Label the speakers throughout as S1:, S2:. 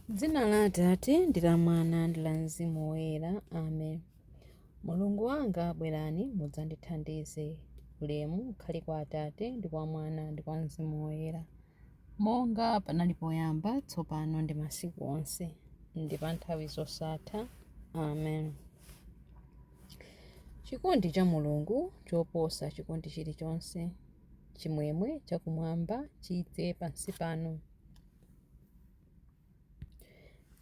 S1: M'dzina la Atate, ndi la Mwana, ndi la Mzimu Woyera. Amen. Mulungu wanga, bwerani, mudzandithandize. Ulemu ukhale kwa Atate, ndi kwa Mwana, ndi kwa Mzimu Woyera. Monga panali poyamba, tsopano, ndi masiku onse, ndi pa nthawi zosatha. Amen. Chikondi cha Mulungu choposa chikondi chilichonse. Chimwemwe chakumwamba chidze pansi pano.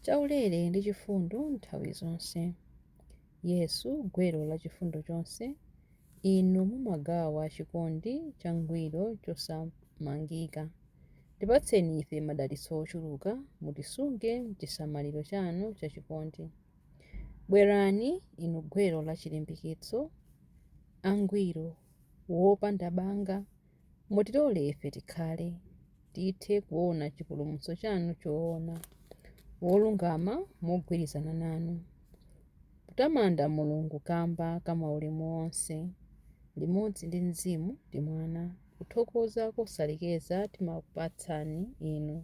S1: chaulere ndi chifundo nthawi zonse. Yesu, gwero la chifundo chonse, inu mumagawa chikondi changwiro chosamangika. Tipatseni ife madalitso ochuluka, mutisunge m'chisamaliro chanu chachikondi. Bwerani, inu gwero la chilimbikitso, angwiro, wopanda banga, Mutilole ife tikhale, tithe kuona chipulumutso chanu choona, wolungama mogwirizana nanu, kutamanda Mulungu kamba ka maulemu onse, limodzi ndi Mzimu ndi Mwana, kuthokoza kosalekeza timakupatsani inu,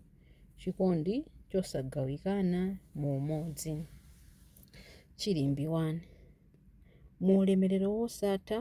S1: chikondi chosagawikana mu umodzi. Chilimbi 1. Mu ulemerero wosatha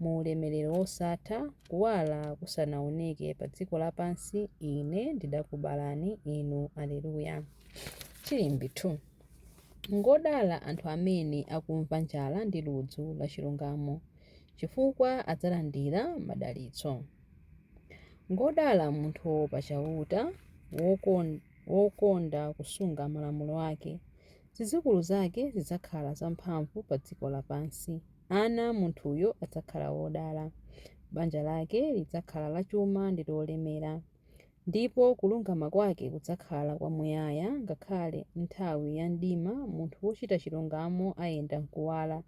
S1: Mu ulemerero wosatha, Kuwala kusanawoneke pa dziko lapansi, Ine ndidakubalani inu. Aleluya! Chilimbi 2. Ngodala anthu amene akumva njala ndi ludzu la chilungamo, chifukwa adzalandira madalitso. Ngodala munthu woopa Chauta, wokonda kusunga malamulo ake, zidzukulu zake zidzakhala zamphamvu pa dziko lapansi. ana a munthuyo adzakhala wodala. Banja lake lidzakhala lachuma ndi lolemera, ndipo kulungama kwake kudzakhala kwamuyaya. Ngakhale m'nthawi ya mdima munthu wochita chilungamo ayenda m'kuwala,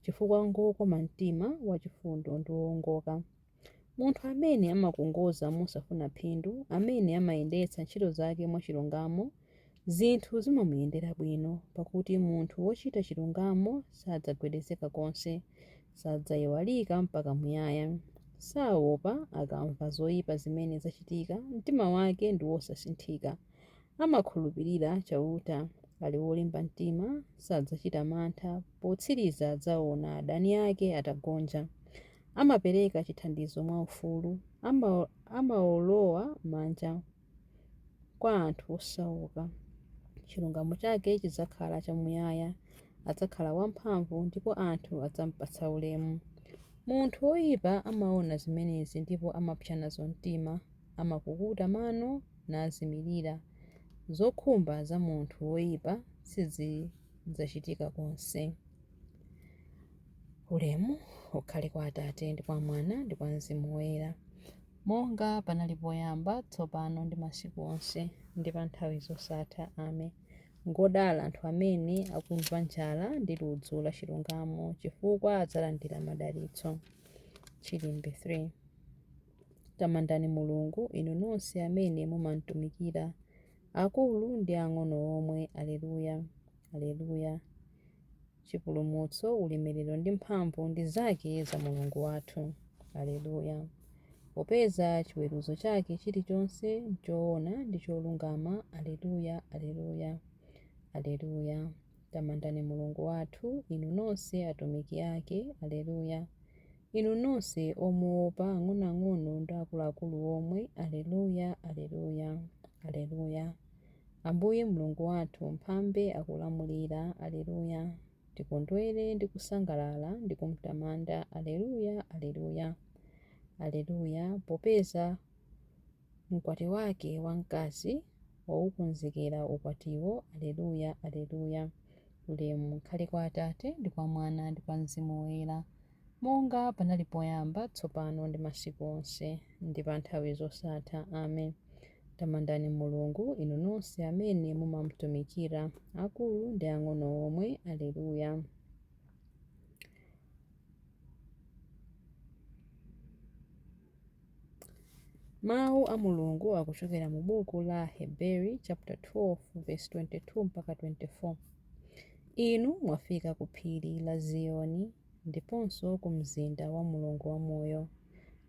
S1: chifukwa ngwokoma mtima, wachifundo ndi woongoka. Munthu amene amakongoza mosafuna phindu, amene amayendetsa ntchito zake mwachilungamo, zinthu zimamuyendera bwino, pakuti munthu wochita chilungamo sadzagwedezeka konse, sadzayiwalika mpaka muyaya. Saopa akamva zoyipa zimene zachitika, mtima wake ndi wosasinthika. Amakhulupirira Chauta, ali wolimba mtima, sadzachita mantha, potsiriza adzaona adani ake atagonja. amapereka chithandizo mwaufulu, amawolowa manja kwa anthu osauka. Chilungamo chake chidzakhala chamuyaya, adzakhala wamphamvu ndipo anthu adzamupatsa ulemu. Munthu woyipa amaona zimenezi ndipo amapsa nazo mtima, amakukuta mano nazimirira. Zokhumba za munthu woyipa sizi. dzachitika konse. Ulemu ukhale kwa Atate ndi kwa Mwana ndi kwa Mzimu Woyera, monga panali poyamba, tsopano ndi masiku onse, ndi pa nthawi zosatha. Amen. Ngodala anthu amene akumva njala ndi ludzu la chilungamo, chifukwa adzalandira madalitso. Chilimbi 3 Tamandani Mulungu, inu nonse amene mumamtumikira Akulu ndi ang'ono omwe, Aleluya! Aleluya! Chipulumutso, ulemerero ndi mphamvu ndi zake za Mulungu wathu. Aleluya! Popeza chiweruzo chake chilichonse n'choona ndi cholungama. Aleluya! Aleluya! Aleluya! Tamandani Mulungu wathu, inu nonse atumiki ake. Aleluya! Inu nonse omuwopa, ang'onoang'ono ndi akuluakulu omwe, Aleluya, Aleluya, Aleluya! Ambuye Mulungu wathu, Mphambe akulamulira, Aleluya! Tikondwere ndi kusangalala ndi kumtamanda, Aleluya, Aleluya, Aleluya, popeza Mkwati wake wamkazi, waukonzekera ukwatiwo. Aleluya! Aleluya! Ulemu ukhale kwa Atate, ndi kwa Mwana, ndi kwa Mzimu Woyera, monga panali poyamba, tsopano, ndi masiku onse, ndi pa nthawi zosatha. Amen. Tamandani Mulungu, inu nonse amene mumamtumikira, akulu ndi ang'ono omwe. Aleluya! Mawu a Mulungu akuchokera mu buku la Aheberi chaputa 12 vesi 22 mpaka 24. Inu mwafika ku phiri la Ziyoni ndiponso ku mzinda wa Mulungu wamoyo,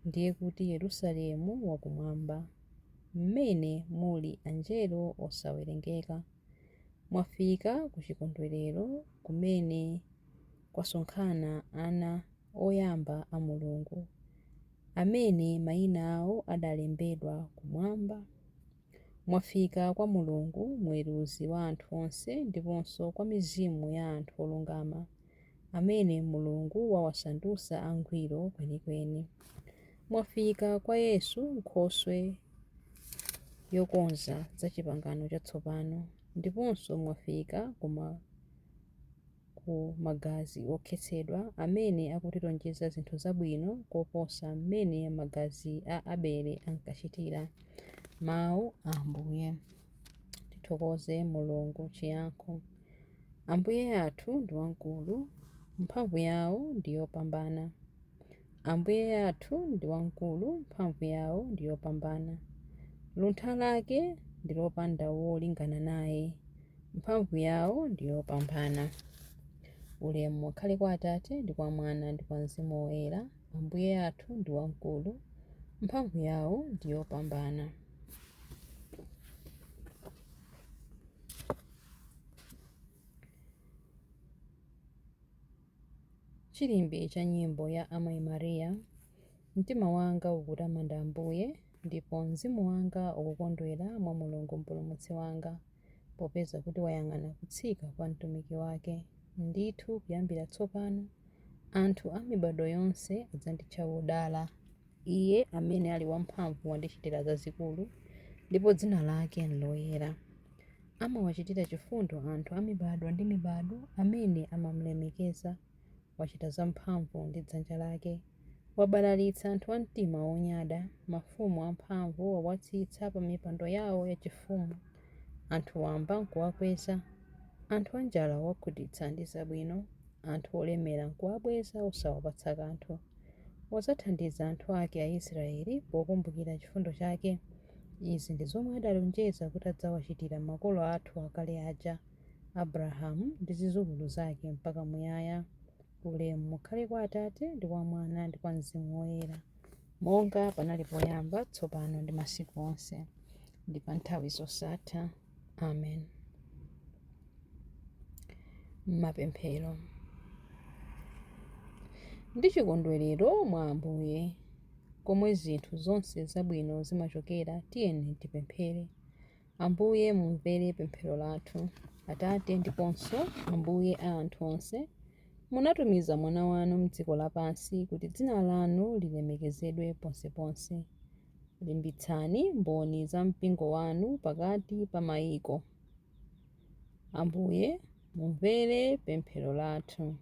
S1: ndiye kuti Yerusalemu wakumwamba, mmene muli anjelo osawerengeka. Mwafika ku chikondwerero kumene kwasonkhana ana oyamba a Mulungu, amene maina awo adalembedwa kumwamba. Mwafika kwa Mulungu, muweruzi wa anthu onse, ndiponso kwa mizimu ya anthu olungama, amene Mulungu wawasandutsa angwiro kwenikweni. Mwafika kwa Yesu, Nkhoswe yokonza za Chipangano Chatsopano, ndiponso mwafika ku ma. ku magazi okhetsedwa amene akutilonjeza zinthu zabwino koposa mmene magazi a Abele ankachitira. Mawu a Ambuye. Tithokoze Mulungu. Chiyankho. Ambuye athu ndi wamkulu, mphamvu yawo ndi yopambana. Ambuye athu ndi wamkulu, mphamvu yawo ndi yopambana. Luntha lake ndi lopanda wolingana naye, mphamvu yawo ndi yopambana. Ulemu ukhale kwa Atate ndi kwa Mwana ndi kwa Mzimu Woyera. Ambuye athu ndi wamkulu, mphamvu yawo ndi yopambana. Chilimbi cha nyimbo ya Amayi Maria, Mtima wanga ukutamanda Ambuye, ndipo mzimu wanga ukukondwera mwa Mulungu Mpulumutsi wanga, popeza kuti wayang'ana kutsika kwa mtumiki wake, Ndithu kuyambira tsopano anthu a mibadwo yonse adzanditcha wodala. Iye amene ali wamphamvu wandichitira zazikulu, ndipo dzina lake nloyera. Amawachitira chifundo anthu a mibadwo ndi mibadwo amene amamlemekeza. Wachita zamphamvu ndi dzanja lake. Wabalalitsa anthu a mtima wonyada, mafumu amphamvu wawatsitsa pa mipando yao yachifumu. Anthu wamba nkuwakweza. Anthu anjala waŵakhutitsa ndi zabwino, anthu olemera nkuwabweza osawapatsa kanthu. Wadzathandiza anthu ake Aisraele pokumbukira chifundo chake. Izi ndi zomwe adalonjeza kuti adzawachitira makolo athu akale aja, Abrahamu ndi zidzukulu zake mpaka muyaya. Ulemu ukhale kwa Atate, ndi kwa Mwana, ndi kwa Mzimu Woyera. Monga panali poyamba, tsopano ndi masiku onse, ndi pa nthawi zosatha. Amen. Mapemphero ndi chikondwerero mwa Ambuye komwe zinthu zonse zabwino zimachokera, tiyeni tipemphere. Ambuye mumvere pemphero lathu. Atate ndiponso Ambuye a anthu onse, munatumiza Mwana wanu m'dziko lapansi kuti dzina lanu lilemekezedwe ponseponse. Limbitsani Mboni za mpingo wanu pakati pa maiko. Ambuye, mumvere pemphero lathu.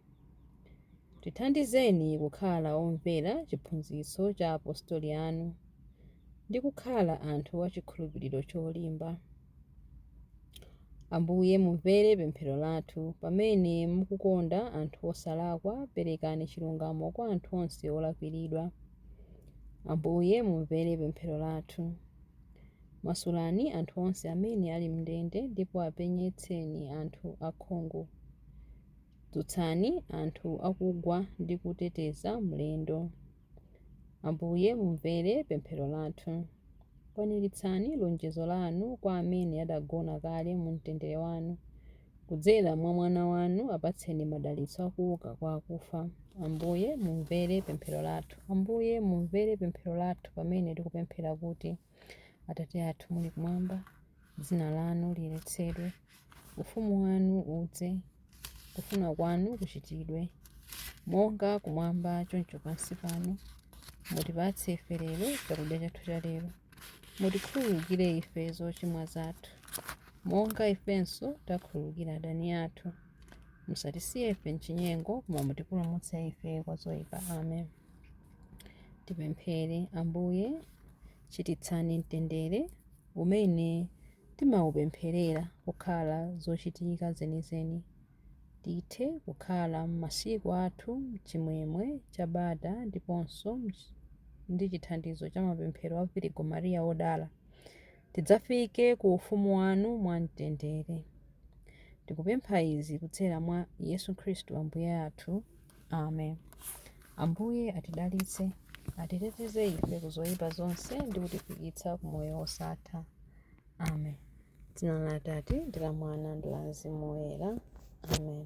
S1: Tithandizeni kukhala omvera chiphunzitso cha apostoli anu ndi kukhala anthu a chikhulupiriro cholimba. Ambuye, mumvere pemphero lathu. Pamene mukukonda anthu osalakwa, perekani chilungamo kwa anthu onse olakwiridwa. Ambuye, mumvere pemphero lathu. Masulani anthu onse amene ali m'ndende ndipo apenyetseni anthu akhungu. Dzutsani anthu akugwa ndi kuteteza mlendo. Ambuye, mumvere pemphero lathu. Kwaniritsani lonjezo lanu kwa amene adagona kale mu mtendere wanu. Kudzera mwa Mwana wanu apatseni madalitso akuuka kwa akufa. Ambuye, mumvere pemphero lathu. Ambuye, mumvere pemphero lathu pamene tikupemphera kuti. Atate athu muli kumwamba, dzina lanu liyeretsedwe, ufumu wanu udze, kufuna kwanu kuchitidwe monga kumwamba choncho pansi pano. Mutipatse ife lero chakudya chathu cha lero, mutikhululukire ife zochimwa zathu monga ifenso takhululukira adani athu, musatisiye ife mchinyengo, koma mutipulumutse ife kwa zoipa. Amen. Tipemphere. Ambuye, chititsani mtendere umene timaupempherera kukhala zochitika zenizeni. Tithe kukhala m'masiku athu m'chimwemwe cha bata ndiponso ndi chithandizo cha mapemphero a Virigo Maria Wodala. tidzafike ku ufumu wanu mwamtendere. Tikupempha izi kudzera mwa Yesu Khristu Ambuye athu. Amen. Ambuye atidalitse, atiteteze ife ku zoyipa zonse ndi kutifikitsa ku moyo wosatha. Amen. Dzina la Atate ndi la Mwana ndi la Mzimu Woyera. Amen.